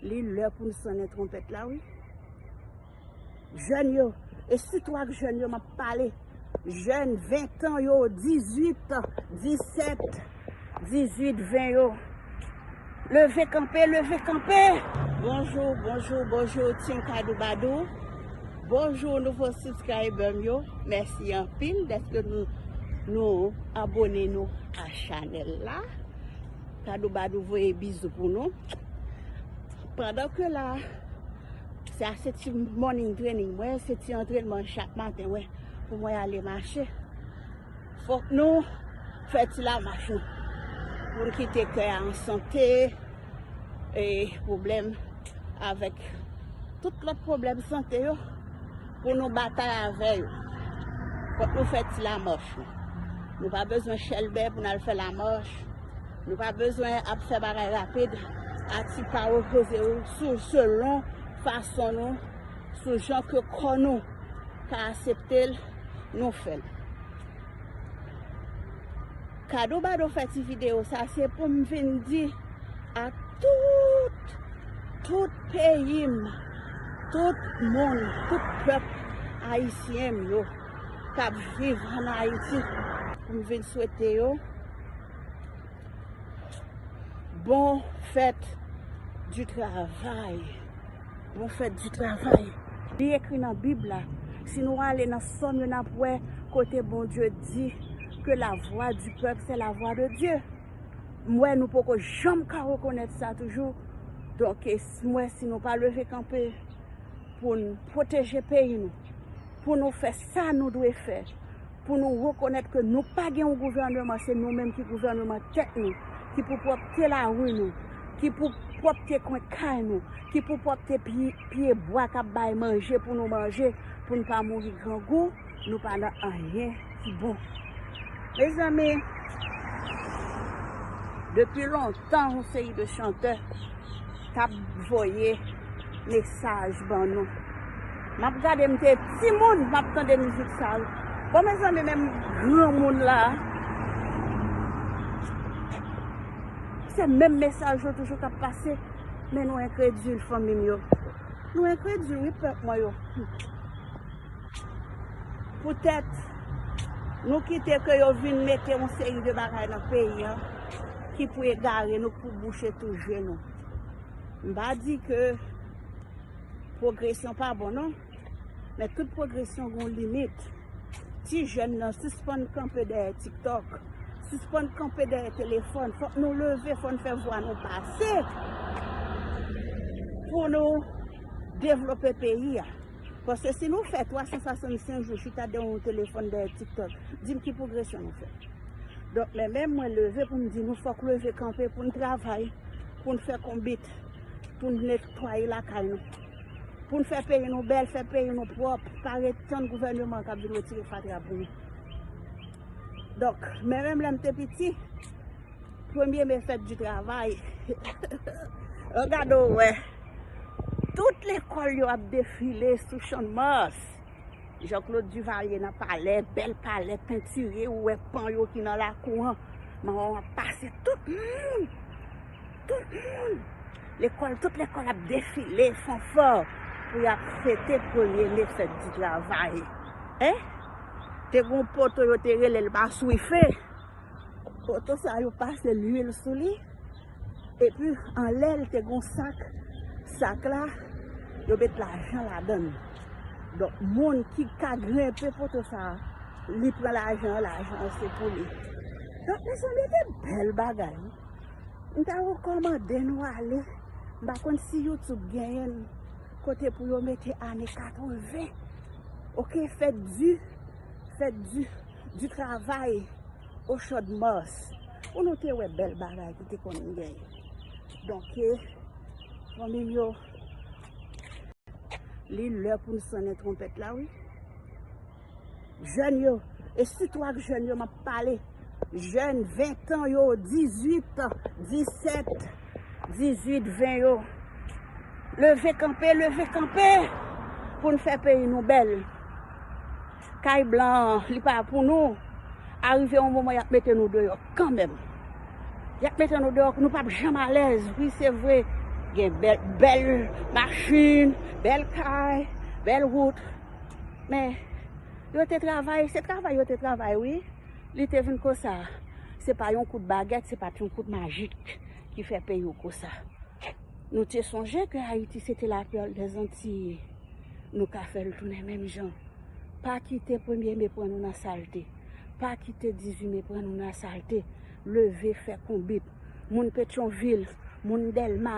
Li lè pou n sonnen twonpèt la wi. Jèn yo, e sitou ak jèn yo m ap pale, jèn ventan yo, dizuit, disèt, dizuit, ven yo, leve kanpe, leve kanpe! Bonjou, bonjou, bonjou Team Kadoubadou, bonjou nouvo subscriber m yo, mèsi anpil dèske nou abone nou a chanèl la. Tadou badou voye bizou pou nou. Pandan ke la, sa se ti morning training mwen, se ti antrenman chak maten mwen pou mwen ale mache. Fòk nou fè ti la mach nou. Pou nou kite kè an sante, e problem avèk tout lòt problem sante yo. Pou nou batay avè yo. Fòk nou fè ti lamàch nou. Nou pa bezwen chèlbè pou n al fè lamàch. Nou pa bezwen ap fè bagay rapid a ti pa repoze ou sou selon fason nou, sou jan ke kò nou ka asepte l, nou fè l. Kado Bado fè ti video sa se poum vin di a tout tout peyim tout moun tout pèp ayisyen m yo kap viv an ayiti poum vin swete yo bon fèt di travay. Profèt di travay. Li ekri nan bib la. Si nou ale nan sòm yo nap wè kote Bondye di ke la vwa di pèp se la vwa de Dye. M wè nou poko janm ka rekonèt sa toujou. Donk m wè si nou pa leve kanpe pou n pwoteje peyi nou. Pou nou fè sa nou dwe fè. Pou nou rekonèt ke nou pa gen yon gouvèneman, se nou menm ki gouvèneman tèt nou, ki pou pwòpte lari nou, ki pou pwòpte kwen kay nou, ki pou pwòpte pye bwa k ap bay manje pou nou manje, pou n pa mouri grangou, nou pa nan anyen ki bon. Mezanmi, depi lontan. Tan yon seri de chantè tap voye mesaj ban nou. Map gade m te timoun map tande mizik sa yo. Bon mezanmi menm granmoun la se menm mesaj yo toujou kap pase men nou enkredil fanmi m yo. Nou enkredil wi pèp mwen yo. Poutèt Nou kite ke yo vin mete yon seri de bagay nan peyi an ki pou egare nou pou bouche tou je nou. M pa di ke pwogresyon pa bon non, men tout pwogresyon gen yon limit. Ti jèn nan sispann kanpe dèyè tiktok, sispann kanpe dèyè telefòn, fòk nou leve, fòk nou fè vwa nou pase pou nou devlope peyi a. Paske si nou fè 365 jou chita devan yon telefòn dèyè tiktok, di m ki pwogresyon nou fè? Donk men menm mwen leve pou m di nou fòk leve kanpe pou n travay, pou n fè konbit, pou n netwaye lakay nou, pou n fè peyi nou bèl, fè peyi nou pwòp, pa ret tann gouvèneman k ap vin retire fatra pou nou. Donk men menm lè m te piti. Premye me fèt di travay. An gade w wè. Tout lekòl yo ap defile sou Channmas. Jean Claude Duvalier nan palè, bèl palè pentire, ou wè pan yo ki nan lakou an. Mawon ap pase tout moun. Tout moun. Lekòl, tout lekòl ap defile, fanfò. Pou y ap fete premye me fèt di travay. Te gen yon poto yo te rele l Maswife. Oto sa yo pase lwil sou li epi anlè l te gon sak, sak la yo met lajan ladan l. Donk moun ki ka grenpe poto sa li pran lajan an, lajan an se pou li. Donk mezanmi se bèl bagay wi. M ta rekòmande nou ale, m pa konn si youtube genyen kote pou yo mete ane 80 ok fèt di. Fèt di travay o chòd Mars. Pou nou te wè bèl bagay ki te konn gen. Donke, fanmi m yo, li lè pou n sonnen twonpèt la wi. Jèn yo, e sitou ak jèn yo m ap pale, jèn ventan yo, dizuit, disèt. 18 20 yo leve kanpe leve kanpe pou n fè peyi nou bèl kay blan an li pa pou nou arive yon moman yap mete nou deyò kanmèm yap mete nou deyò nou pap janm alèz wi se vre gen bèl machin bèl kay bèl wout men yo te travay se travay yo te travay wi Li te vin konsa. Se pa yon kout bagèt, se pa t yon kout majik ki fè peyi w konsa. Nou te sonje ke Ayiti se te la perle des Antilles. Nou ka fè l tounen menm jan. Pa kite premye me pran nou nan salte. Pa kite 18 me pran nou nan salte. Leve fè konbit. Moun Petyonvil, moun Dèlma,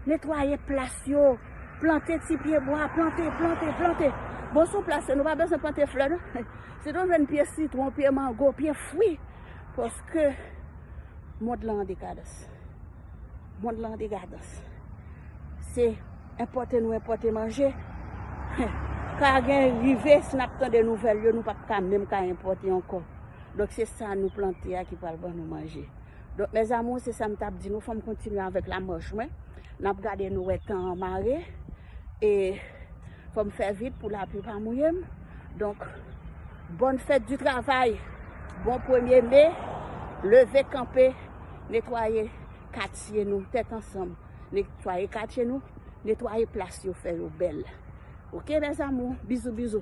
netwaye plas yo, plante ti pye bwa, plante, plante, plante. Bon sou plas yo nou pa bezwen plante flè non. Si nou jwenn pye sitwon, pye mango, pye fwi, paske mond lan an dekadans. Mond lan an dekadans. Se enpòte nou enpòte manje. Ka gen rive si n ap tande nouvèl yo nou pa p ka menm ka enpòte ankò. Donk se sa nou plante a ki pral ban nou manje. Donk mes amours se sam tap di nou fòm kontinye avèk la mòch mwen nap gade nou wè tan an mare e fòm fè vit pou lapli pa mouyem donk bòn fèt di travay bon premye me leve kanpe netwaye katye nou tèt ansanm netwaye katye nou netwaye plas yo fè yo bèl ok mes amours bizou bizou.